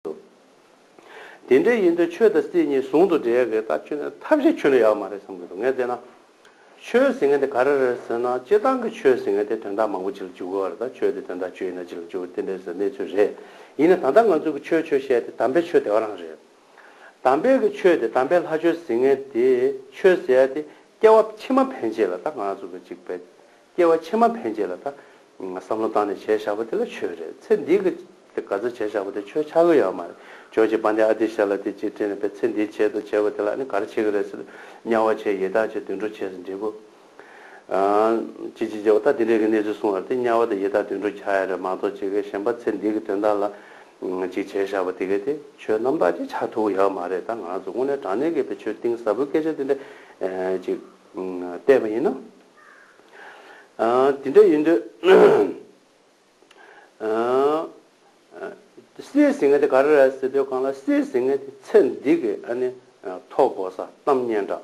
འདུག་དེ་འདྲ་ཡིན་དུས་ཆོས་དང་སྲིད་གཉིས་ཟུང་དུ་འབྲེལ་དགོས་ད་ཁྱོད་ནས་ཐབས་ཤེས་ཁྱོད་ལ་ཡག་མ་རེད་བསམ་གྱི་འདུག་ངས་བལྟས་ན། ཆོས་ཟེར་མཁན་དེ་ག་རེ་རེད་ཟེར་ན་སྤྱི་བཏང་གི་ཆོས་ཟེར་མཁན་དེ་དོན་དག་མང་པོ་བྱེད་ལ་འཇུག་དགོས་བ་རེད་ད་ཆོས་དེ་དོན་དག་བྱེད་ཡིན་ན་བྱེད་ལ་འཇུག་དགོས་དེ་འདྲ་ཟེར་གནས་ཚུལ་རེད། ཡིན་ནའི་ད་ལྟ་ང་ཚོས་གི་ཆོས་ཆོས་བཤད་དེ་དམ་པའི་ཆོས་དེ་ག་རང་རེད། དམ་པའི་གི་ཆོས་དེ་དམ་པའི་ལྷ་ཆོས་ཟེར་མཁན་དེ་ཆོས་ཟེར་ཡ་དེ་སྐྱེ་བ་ཕྱི་མ་ཕན་ཆད་ལ་ད་ང་ཚོ་གི་གཅིག་པའི་སྐྱེ་བ་ཕྱི་མ་ཕན་བྱེད་ལ་ད། བསམ་བློ་བཏང་ནས་བྱས་བཞག་པ་དེ་ལ་ཆོས་རེད་ཚེ་འདིའི་གི། དེ་ག་ཚོད་བྱས་བཞག་པ་དེ་ཆོས་ཆགས་གི་ཡོད་མ་རེད་ཇོ་ཇེ་པཱ་འདི་ཨ་དེ་བྱས་ལ་དེ་བྱས་དྲན་ནས་བས་ཚེ་འདིའི་བྱས་དང་བྱས་པ་དེ་ལ་ནི་ག་རེ་བྱེད་གི་རེད་ཟེར་དམྱལ་བ་བྱས་ཡེ་དག་བྱས་དུད་འགྲོ་བྱས་ཟེར་འགྲིག་གོ། ཇི་ཇི་ཇི་འོ་ད་དེ་འདྲའི་གི་གནས་ཚུལ་སོང་བ་རེད་དེ་དམྱལ་བ་དང་ཡེ་དག་དུད་འགྲོ་བྱ་ཡ་རེད་མ་གཏོགས་ཇི་ག་གཞན་པ་ཚེ་འདིའི་གི་དོན་དག་ལ། ཅིག་བྱས་བཞག་པ་དེ་ག་དེ་ཆོས་རྣམ་དག་ཅིག་ཆགས་ཐུག་གི་ཡོད་མ་རེད་ད་ང་ཚོ་དངོས་གནས་དྲང་གནས་གི་བས་ཆོས་གཏིང་ཟབ་པོའི་སྐད་ཆ་དེ་འདྲ། ཅིག། བལྟས་པ་ཡིན་ན། དེ་འདྲ་ཡིན་དུས། སྲིད་ཟིང་ངེ་དེ་ག་རེ་རེད་ཟེར་དུས་གང་ལྟར་སྲིད་ཟིང་ངེ་དེ་ཚེ་འདི་གི་ཨ་ནི་ཐོག་བོ་ས་གཏམ་སྙན་གྲགས་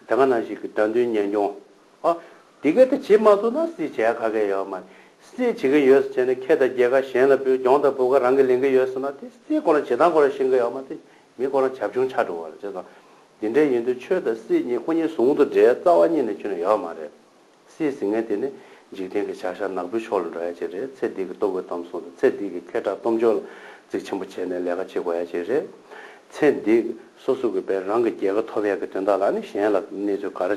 དེ་ག་ནང་ཞིག་གི་དགྲ་འདུལ་གཉེན་སྐྱོང་ཨ། དེ་ག་དེ་བྱེད་མ་ཐུབ་ན་སྲིད་བྱེད་ག་གེ་ཡོད་མ་རེད། སྲིད་བྱེད་གི་ཡོད་ཟེར་བྱས་ནས་ཁྱེད་དང་རྒྱལ་ཁ་གཞན་ལ་བོད་གྱོང་དང་བོད་ག་རང་གི་ལེན་གི་ཡོད་ཟེར་ན་དེ་སྲིད་གོ་ལ་བྱེད་སྟངས་གོ་ལ་ཤེས་གི་ཡོད་མ་རེད་མི་དཀོན་ན་བྱབ་ཆུང་ཆགས་འགྲོ་བ་རེད་ཅེས་དང། འདི་འདྲའི་ཡུན་དུ་ཆོས་དང་སྲིད་གཉིས་སྐུ་གཉིས་ཟུང་དུ་འབྲེལ་རྩ་བ་གཉིས་ནས་ཆུད་ན་ཡག་མ་རེད། སྲིད་ཟིང་ངན་དེ་ནི་འཇིག་རྟེན་གྱི་བྱ་གཞག་ནག་པོའི་ཕྱོགས་ལ་འགྲོ་ཡ་ཆེད་རེད་ཚེ་འདི་གི་ལྟོ་གོས་གཏམ་གསུང་དང་ཚེ་འདི་གི་ཁེ་གྲགས་གཏོང་ཕྱོགས་ལ་གཙིགས་ཆེན་པོ་བྱས་ནས་ལས་ཀ་བྱེད་དགོས་ཡ་ཆེད་རེད། ཚེ་འདི་སོ་སོ་གི་བས་རང་གི་རྒྱལ་ཁ་ཐོབ་ཡ་གི་དོན་དག་ལ་ནི་གཞན་ལ་གནས་ཚུལ་ག་རེ་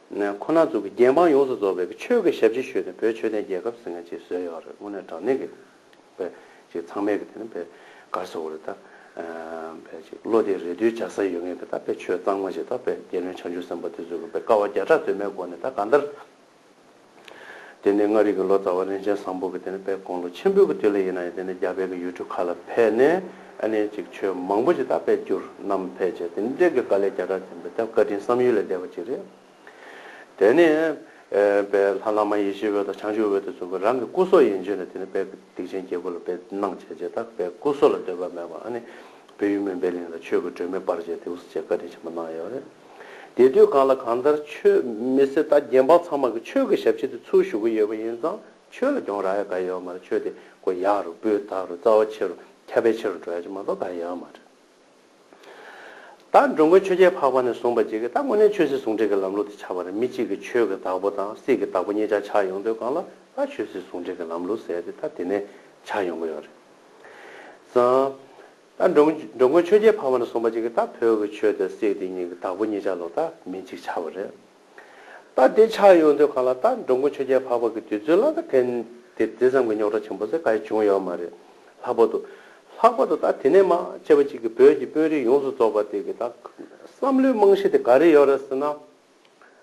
ནས་ཁོ་ན་ཚོ་གི་རྒྱལ་འབངས་ཡོངས་སུ་རྫོགས་པའི་ཆོས་ཀྱི་ཞབས་ཕྱི་ཞུས་ནས་བོད་ཆོས་ལྡན་རྒྱལ་ཁབ་ཟེར་ནས་ཅིག་བཟོས་ཡོད་རེད་དངོས་གནས་དྲང་གནས་ཀྱི་བོད་ཅིག་ཚང་མས་ཀྱི་དེ་ནི་བོད་གར་སོ་གོ་རེད་ད། བོད་ཅིག་བློ་བདེ་རེ་ལྟོས་འཇགས་ས་ཡོད་ངེས་ཀྱི་ད་བོད་ཆོས་གཙང་མ་ཞིག་ད་བོད་རྒྱལ་བློན་བྱང་ཆུབ་སེམས་དཔའ་དེ་ཚོ་གི་བོད་དཀའ་བ་བརྒྱ་ཕྲག་དོན་མེད་སྒོ་ནས་ད་གང་ལྟར། དེ་ནས་མངའ་རིས་ཀྱི་ལོ་ཙཱ་བ་རིན་ཆེན་བཟང་པོ་གྱིས་དེ་ནས་པད་ཀོང་ལོ་ཆེན་པོའི་དུས་ལ་ཡིན་ན་ཡང་དེ་ནས་རྒྱ་བལ་གྱི་ཡུལ་གྲུ་ཁག་ལ་ཕེབས་ནས་ཨ་ནེ་ཅིག་ཆོས་མང་པོ་ཅིག་དག་པས་བསྒྱུར་རྣམས་ཕལ་ཆེར་དེ་ནས་འབྲེལ་གྱི་བཀའ་ལས་བརྒྱ་ཕྲག་ཆེན་པོའི་ཐེབས་བཀའ་དྲིན་བསམ་ཡུལ་ལས་འདས་པ་ཅིག་རེད། དེ་ནས་པའི་ལྷ་བླ་མ་ཡེ་ཤེས་འོད་དང་བྱང་ཆུབ་འོད་དུ་གསུམ་གྱིས་རང་གི་སྐུ་སྲོག་ཡན་ཆོད་ནས་དེ་ནས་པད་ཀྱི་སྡིག་ཆེན་རྒྱལ་པོ་ལ་པའི་སྣང་བྱས་རྗེས་དག་པའི་སྐུ་སྲོག་ལ་འདོད་པ་མེད་པར་ཨ་ནེ་བོད་ཡུལ་མུན་པའི་གླིང་ལ་ཆོས་ཀྱི་སྒྲོན་མེ་སྤར་རྗེས་དེ་འུ་ཚོ་བཅས་བཀའ་དྲིན་ཆེན་པོ་གནང་ཡོད་རེད། དེ་དུས་གང་ལ་གང་ལྟར་ཆོས་མི་སེར་དང་རྒྱལ་འབངས་ཚང་མ་གིས་ཆོས་ཀྱི་ཞབས་ཕྱི་དེ་ཚུར་ཞུ་གི་ཡོད་པ་ཡིན་ཙང་ཆོས་ལ་གྱོང་རག་ཡ་ག་ཡོད་མ་རེད་ཆོས་དེ་གོ་ཡ་རུ་སྤུས་དག་རུ་རྩ་བ་ཆེ་རུ་ཁྱབ་པའི་ཆེ་རུ་འགྲོ་ཡ་ཅིག་མ་གཏོགས་ག་ཡ་མ་རེད། ད་འགྲོ་མགོན་ཆོས་རྒྱལ་འཕགས་པ་ནས་བཟུང་བ་གཅིག་གིས་ད་དངོས་གནས་ཆོས་སྲིད་ཟུང་འབྲེལ་གྱི་ལམ་ལུགས་དེ་ཆགས་པ་རེད་མི་གཅིག་གིས་ཆོས་ཀྱི་བདག་པོ་དང་སྲིད་ཀྱི་བདག་པོ་གཉིས་ཆ་ཆགས་ཡོང་དུས་གང་ལ་ད་ཆོས་སྲིད་ཟུང་འབྲེལ་གྱི་ལམ་ལུགས་ཟེར་ཏེ་ད་དེ་ནས་ཆགས་ཡོང་གི་ཡོད་རེད་ཙང། ད་འགྲོ་མགོན་ཆོས་རྒྱལ་འཕགས་མ་ལ་གསུངས་པ་ཅིག་གིས་ད་བོད་ཀྱི་ཆོས་དེ་སྲིད་དེ་ཉིད་ཀྱི་བདག་པོ་གཉིས་ཆ་ལོག་ད་མི་གཅིག་ཆ་བོ་རེད། ད་དེ་ཆགས་ཡོང་དུས་གང་ལ་ད་འགྲོ་མགོན་ཆོས་རྒྱལ་འཕགས་པ་གི་དུས་ཚོད་ལ་ད་དེ་དེ་དེ་ཙམ་གྱི་རྙོག་དྲ་ཆེན་པོ་ཟེར་ག་ཡི་བྱུང་ཡོད་མ་རེད། ལྷག་པར་དུ། ལྷག་པར་དུ་ད་དེ་ནས་མ་དཔྱད་པ་ཅིག་གིས་བོད་ཀྱི་དཔོན་རིགས་ཡོངས་སུ་རྫོགས་པ་དེ་གི་ད་བསམ་བློའི་རྨང་གཞི་དེ་ག་རེ་ཡོད་རེད་ཟེར་ན།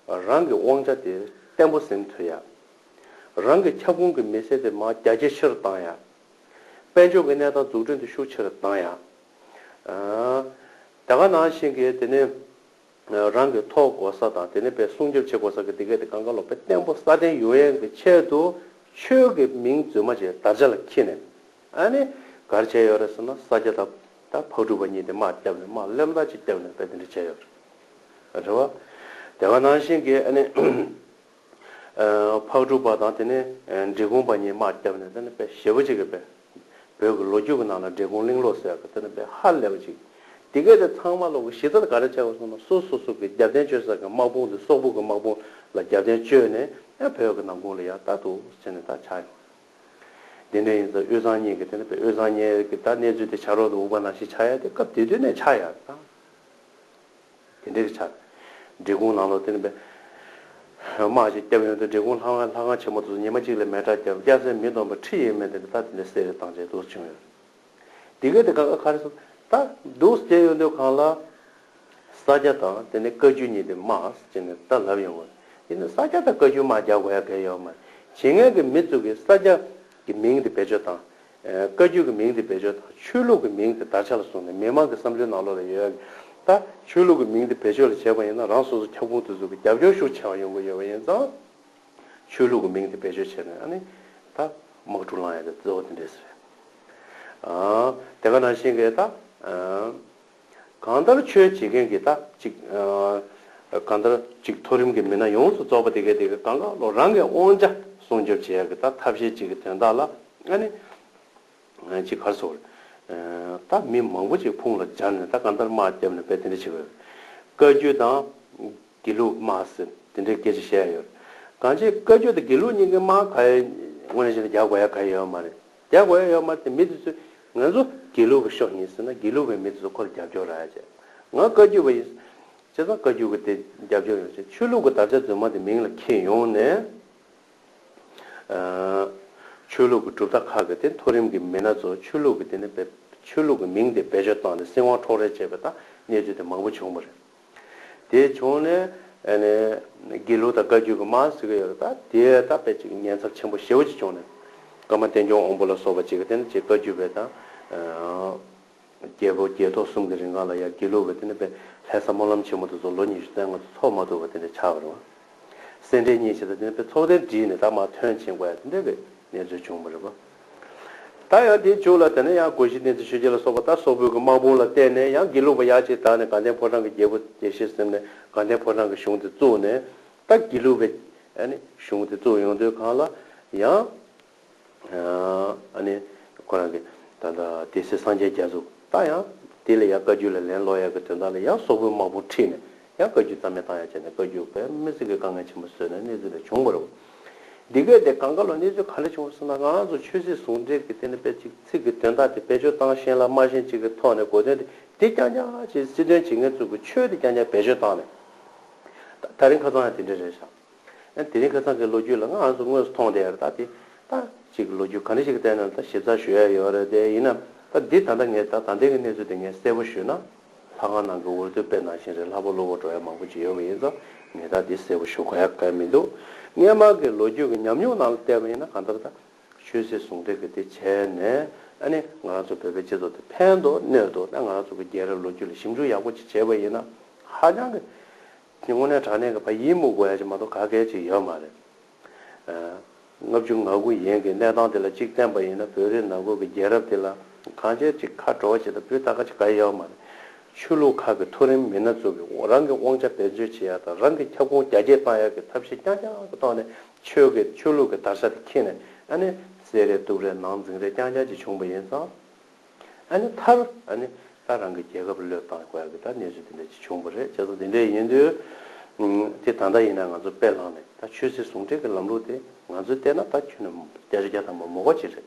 རང་གི་དབང་ཆ་དེ་བརྟན་པོ་ཟིན་ཐུབ་ཡ། རང་གི་ཁྱབ་ཁོངས་ཀྱི་མི་སེར་དེ་མ་རྒྱ་ཇེ་ཆེ་རུ་བཏང་ཡ། དཔལ་འབྱོར་གྱི་གནས་སྟངས་འཛུགས་སྐྲུན་དུ་ཤུགས་ཆེ་རུ་བཏང་ཡང། རྒྱ་གར་ནང་བཞིན་གྱི་དེ་ནི་རང་གི་ཐོག་བགོ་ས་དང་དེ་ནས་བས་སྲུང་སྐྱོབ་བྱེད་དགོས་ས་ཀྱི་སྡེ་དགེ་དེ་གངྒཱ་ལོ་པའི་སྟེང་པོ་སྲ་བརྟན་ཡུལ་ཡན་གྱི་ཆེད་དུ་ཆོས་ཀྱི་མིང་རྫུན་མ་ཅིག་དར་ཆ་ལ་འཁྱིལ་ནས་ཨ་ནི་གར་བྱས་ཡོད་རེད་ཟེར་ན་ས་སྐྱ་དང་དང་ཕག་གྲུ་པ་གཉིས་དེ་དམག་བརྒྱབ་ནས་དམག་ལེབ་མདའ་ཅིག་བརྒྱབ་ནས་དཔེ་དེ་འདྲ་བྱས་ཡོད་རེད། རེད་བ། རྒྱ་གར་ནང་བཞིན་གྱི་ཨ་ནི། ཕག་གྲུ་པ་དང་དེ་ནས་འབྲི་གུང་པ་གཉིས་དམག་བརྒྱབ་ནས་དེ་ནས་བཞི་པོ་ཅིག་གིས་བོད་ཀྱི་ལོ་རྒྱུས་ཀྱི་ནང་ལ་འབྲི་གུང་གླིང་ལོ་ཟེར་གི་དེ་ནས་ཧ་ལས་པ་ཅིག་དེ་སྐད་དེ་ཚང་མ་ལོ་གི་གཞི་རྩ་ག་རེ་བྱས་པ་སོང་ན་སོ་སོ་སོ་གི་རྒྱབ་རྟེན་བཅོལ་ས་གི་དམག་དཔུང་དེ་སོག་པོ་གི་དམག་དཔུང་ལ་རྒྱབ་རྟེན་བཅོལ་ནས་བོད་ཀྱི་ནང་ཁུང་ལ་ཡང་རྟ་ཐུག་བྱས་ནས་ད་ཆགས་ཡོང་དེ་ནས་ཡིན་ཙང་དབུས་གཙང་གཉིས་ཀྱི་དེ་ནས་དབུས་གཙང་གཉིས་ཀྱི་ད་གནས་ཚུལ་དེ་བྱ་རོག་དེ་འུག་པ་ནང་བཞིན་ཆགས་ཡ་དེ་སྐབས་དེ་དུས་ནས་ཆགས་ཡ་དང། དེ་འདྲའི་ཆ། འབྲི་གུང་ལང་ལོ་དེར་འབད། མ་ཞིག་བསྐྱབས་ཡོང་དུས་འབྲི་གུང་ལྷ་ཁང་ལྷ་ཁང་ཆེན་མོ་དེ་ཚོ་ཉི་མ་གཅིག་ལ་མེ་ཁྲག་བརྒྱབ་བརྒྱབ་སའི་མི་སྡོམ་པ་ཁྲི་ཡས་མས་དེ་འདྲ་ད་དེ་འདྲའི་གསེར་རི་དང་བཅས་དུས་སུ་བྱུང་ཡོད། དེ་གའི་དེ་ག་ཨ་ཁ་རི་སོགས་ད་སྡུག་ས་བསྐྱལ་ཡོང་དུས་གང་ལ། ས་སྐྱ་དང་དེ་ནས་བཀའ་བརྒྱུད་གཉིས་དེ་མ་ཅི་ནས་ད་ལབ་ཡོང་དགོས། དེ་ནས་ས་སྐྱ་དང་བཀའ་བརྒྱུད་མ་རྒྱག་དགོས་ཡ་གལ་ཡོད་མ་རེད། ཇི་སྔའི་གི་མི་ཚུགས་ཀྱི་ས་སྐྱ་གི་མིང་དེ་བེད་སྤྱོད་བཏང། བཀའ་རྒྱུད་ཀྱི་མིང་དེ་བེད་སྤྱོད་དང་ཆོས་ལུགས་ཀྱི་མིང་དེ་དར་ཆ་ལ་བཟུང་ནས་མི་མང་གི་བསམ་ཚུལ་ནང་ལོག་ལ་ཡོད་ཡ་གི། ད་ཆོས་ལུགས་ཀྱི་མིང་དེ་བེད་སྤྱོད་ལ་བྱས་པ་ཡིན་ན་རང་སོ་སོ་ཁྱབ་ཁུངས་དེ་ཚོ་གི་རྒྱབ་སྐྱོར་ཤུགས་ཆེ་བ་ཡོང་གི་ཡོད་པ་ཡིན་ཙང། ཆོས་ལུགས་ཀྱི་མིང་དེ་བེད་སྤྱོད་བྱས་ནས་ཨ་ནི། ད་དམག་འཁྲུག་ལང་ཡ་གི་རྫི་བོ་དེ་འདྲས་སུ་རེད། དེ་ག་ནང་བཞིན་གི་ད། གང་ལྟར་ཆོས་བྱེད་མཁན་གྱི་ད་ཅིག། གང་ལྟར་ཅིག་མཐོ་རིམ་གྱི་མི་སྣ་ཡོངས་སུ་རྫོགས་པ་དེ་གའི་དེ་གའི་གང་གཱ་ལོག་རང་གི་དབང་ཆ་སྲུང་སྐྱོབ་བྱེད་ཡག་གི་ད་ཐབས་ཤེས་ཅིག་གི་དོན་དག་ལ་ཨ་ནི། ཅིག་གར་སོ། ད་མི་མང་པོ་ཅིག་ཕུང་ལ་སྦྱར་ནས་ད་གང་ལྟར་དམག་བརྒྱབ་ནས་དཔེ་དེ་འདྲ་བྱེད་དགོས། བཀའ་རྒྱུད་དང། དགེ་ལུགས་དམག་ཟེར་དེ་འདྲའི་སྐད་ཆ་བཤད་ཡག་ཡོད་རེད། གང་ཅིག་བཀའ་རྒྱུད་དང་དགེ་ལུགས་གཉིས་ཀྱི་དམག་ག་ཡའི་དངོས་གནས་བྱས་ན་རྒྱག་དགོས་ཡ་ག་ཡའི་ཡོད་མ་རེད། རྒྱ་གོ་ཡ་ཡོག་མ་དེ་མི་དེ་ཚོས་ང་ཚོ་དགེ་ལུགས་པ་ཤོག་ཡིན་ཟེར་ན་དགེ་ལུགས་པའི་མི་དེ་ཚོ་ཁོ་ལ་རྒྱབ་སྐྱོར་ར་བྱེད། ང་བཀའ་རྒྱུད་པ་ཡིན་བྱས་ཙང་བཀའ་རྒྱུད་ཀྱི་དེ་རྒྱབ་སྐྱོར་ཡོང་བྱེད་ཆོས་ལུགས་ཀྱི་དར་ཆ་རྫུན་མ་དེ་མིང་ལ་ཁྱེར་ཡོང་ནས། ཆོས་ལུགས་ཀྱི་གྲུབ་མཐའ་ཁག་གི་དེ་མཐོ་རིམ་གྱི་མི་སྣ་ཚོ་ཆོས་ལུགས་ཀྱི་དེ་ནས་ཆོས་ལུགས་ཀྱི་མིང་དེ་བེད་སྤྱོད་བཏང་ནས་སྲིད་དབང་འཕྲོག་རེས་བྱས་པའི་ཐག་གནས་ཚུལ་དེ་མང་པོ་བྱུང་བ་རེད། དེ་བྱུང་ནས། དགེ་ལུགས་དང་བཀའ་བརྒྱུད་ཀྱི་མང་སྲིད་ཀྱི་ཡོ་རོ་ད་དེ་ད་དཔེ་གཅིག་གི་ཉེན་ཚབས་ཆེན་པོ་ཞེ་བོ་གཅིག་བྱུང་ནས། བཀའ་མ་བསྟན་སྐྱོང་དབང་པོ་ལ་སོགས་པ་གཅིག་གི་སྟེ་ནི་གཅིག་བཀའ་བརྒྱུད་པའི་དང། རྒྱལ་པོ་རྒྱལ་ཐོག་གསུམ་གྱི་རིང་ཁང་ལ་ཡང་དགེ་ལུགས་པའི་སྟེ་ནི་དཔེ་ལྷའི་ས་སྨོན་ལམ་ཆེན་མོ་དུ་ཚོགས་ལོ་ཉི་ཤུ་རྩེ་ལྔ་དུ་ཚོགས་མ་ཐུབ་པ་དེ་ནི་ཆགས་པར་དབང། སེར་འབྲས་གཉིས་བྱས་ད་དེ་ནི་དཔེ་ཚོགས་ལྡན་བསྒྲིགས་ནས་ད་མ་ཐོན་ཕྱིན་དགོས་ཡ་དེ་འདྲ་གི་གནས་ཚུལ་བྱུང་བ་རེད་པ། ད་ཡང་དེ་བྱུང་ལ་དེ་ན་ཡང་གོ་བཞི་ནི་ཏི་ཤྲཱི་ཀྱ་ལ་སོགས་པ་དག་སོག་པོའི་གི་དམག་དཔུང་ལ་བརྟེན་ནས་ཡང་དགེ་ལུགས་པ་ཡག་ཅིག་དག་ནི་གངས་ལྡན་ཕོ་བྲང་གི་རྒྱལ་པོ་དེ་ཤེས་སེམས་ནས་གངས་ལྡན་ཕོ་བྲང་གི་གཞུང་དེ་བཙུགས་ནས་ད་དགེ་ལུགས་པའི་གཞུང་དེ་བཙུགས་ཡོང་དུས་གང་ལ་ཡང་ནི་ཁོ་རང་གི་ད་ལྟ་དེ་སྲིད་སངས་རྒྱས་རྒྱ་གཟུགས་ད་ཡང་དེ་ལ་ཡང་བཀའ་རྒྱུད་ལ་ལན་སློག་ཡག་གི་དོན་དག་ལ་ཡང་སོག་པོའི་དམག་དཔུང་ཁྲིད་ནས་ཡང་བཀའ་རྒྱུད་རྩ་མེད་བཏང་ཡ་བྱས་ནས་བཀའ་རྒྱུད་བོད་མི་སེར་གྱི་དཀའ་ངལ་ཆེན་པོ་བཟོས་ནས་གནས་ཚུལ་ལས་བྱུང་མ་རུང། འདི་གའི་དེ་གང་ག་ལོ་གནས་ཚུལ་ག་ལས་བྱུང་བ་སོགས་ན་འང་ཚོ་ཆོས་སྲིད་ཟུང་འབྲེལ་གྱི་སྟེང་ནས་དཔེ་གཅིག་ཚིག་གི་དོན་དག་དེ་བེད་སྤྱོད་བཏང་ཞེན་ལ་སྨྲ་ཞེན་གཅིག་གི་ཐོག་ནས་གོ་དོན་དེ་དེ་རྐྱང་རྐྱང་ཅེས་སྲིད་དོན་བྱེད་མཁན་ཚོས་གི་ཆོས་དེ་རྐྱང་རྐྱང་བེད་སྤྱོད་བཏང་ནས། ད་ད་རིང་ཁ་ཚང་ཡང་དེ་འདྲ་རེད་ཤག་ཡང་དེ་རིང་ཁ་ཚང་གི་ལོ་རྒྱུས་ལ་འང་ཚོ་དངོས་སུ་མཐོང་བསྡད་ཡོད་རེད་ད་དེ་ད་ཅིག་གི་ལོ་རྒྱུས་ག་འདྲ་ཞིག་གི་སྟེང་ནས་ད་ཞིབ་ཚགས་ཞུ་ཡ་ཡོད་རེད་དེ་ཡིན་ནམ་ད་འདི་ད་ལྟ་ངས་ད་ད་ལྟའི་གི་གནས་ཚུལ་དེ་ངས་གསལ་པོ་ཞུས་ན། ལྷ་ཁང་ནང་གི་འོད་དུ་དཔེ་ནང་བཞིན་རེད་ལྷ་བུ་ལུ་བོ་འགྲོ་ཡ་མང་པོ་ཅིག་ཡོད་པ་ཡིན་ཙང་ངེད་དག་འདི་གསལ་པོ་ཞུ་ག་ཡ་ག་ཡ་མི་འདུག་སྔས་མང་གི་ལོ་རྒྱུས་ཀྱི་ཉམས་མྱོང་ནང་ལ་བལྟས་པ་ཡིན་ན་གང་ལྟར་ད་ཆོས་སྲིད་ཟུང་འབྲེལ་གྱི་དེ་བྱས་ནས་ཨ་ནི་ང་རང་ཚོ་བོད་པའི་སྤྱི་ཚོགས་དེ་ཕན་འདོག་གནོད་འདོག་ད་ང་རང་ཚོ་གི་རྒྱལ་རབས་ལོ་རྒྱུས་ལ་ཞིབ་འཇུག་ཡག་པོ་ཅིག་བྱས་པ་ཡིན་ན་ཧ་ཅང་གི་དངོས་གནས་དྲང་གནས་ཀྱི་བ་ཡིད་མུག་གོ་ཡ་ཅིག་མ་གཏོགས་ག་གལ་ཅིག་ཡོད་མ་རེད། ལྔ་བཅུ་ང་དགུ་ཡན་གྱི་གནས་སྟངས་དེ་ལ་གཅིག་བསྟན་པ་ཡིན་ན་བོད་རིགས་ནང་ཁུལ་གྱི་རྒྱལ་རབས་དེ་ལ་གང་བྱས་ཅི་ཁ་བྲོ་བ་བྱེད་ད་བུད་ད་ག་ཅི་ག་ཡོད་མ་རེད། ཆོས་ལུགས་ཁག་གི་མཐོ་རིམ་མི་སྣ་ཚོ་གིས་རང་གི་དབང་ཆ་འབད་རྩོལ་བྱེད་ཡག་དང་རང་གི་ཁྱབ་ཁོངས་རྒྱ་སྐྱེད་གཏང་ཡག་གི་ཐབས་ཤེས་རྐྱང་རྐྱང་གི་ཐོག་ནས་ཆོས་ཀྱི་ཆོས་ལུགས་ཀྱི་དར་ཆ་དེ་ཁྱེར་ནས་ཨ་ནེ། ཟས་རེད་དུག་རེད་ནང་འཛིང་རེད་རྐྱང་རྐྱང་ཅིག་བྱུང་བ་ཡིན་ཙང། ཨ་ནི་མཐར་ཨ་ནི་ད་རང་གི་རྒྱལ་ཁབ་བློས་བཏང་དགོས་ཨ་གི་ད་གནས་ཚུལ་འདི་འདྲ་ཅིག་བྱུང་པ་རེད་བྱ་ཚོ་འདི་འདྲ་ཡིན་དུས། དེ་ད་ལྟ་ཡིན་ན་ང་ཚོ་དཔེ་བླངས་ནས་ད་ཆོས་སྲིད་ཟུང་འབྲེལ་གི་ལམ་ལུགས་དེ་ང་ཚོས་བལྟས་ན་ད་ཁྱོད་ནི་རྒྱ་རི་རྒྱ་དང་མ་མོ་བ་ཅིག་རེད།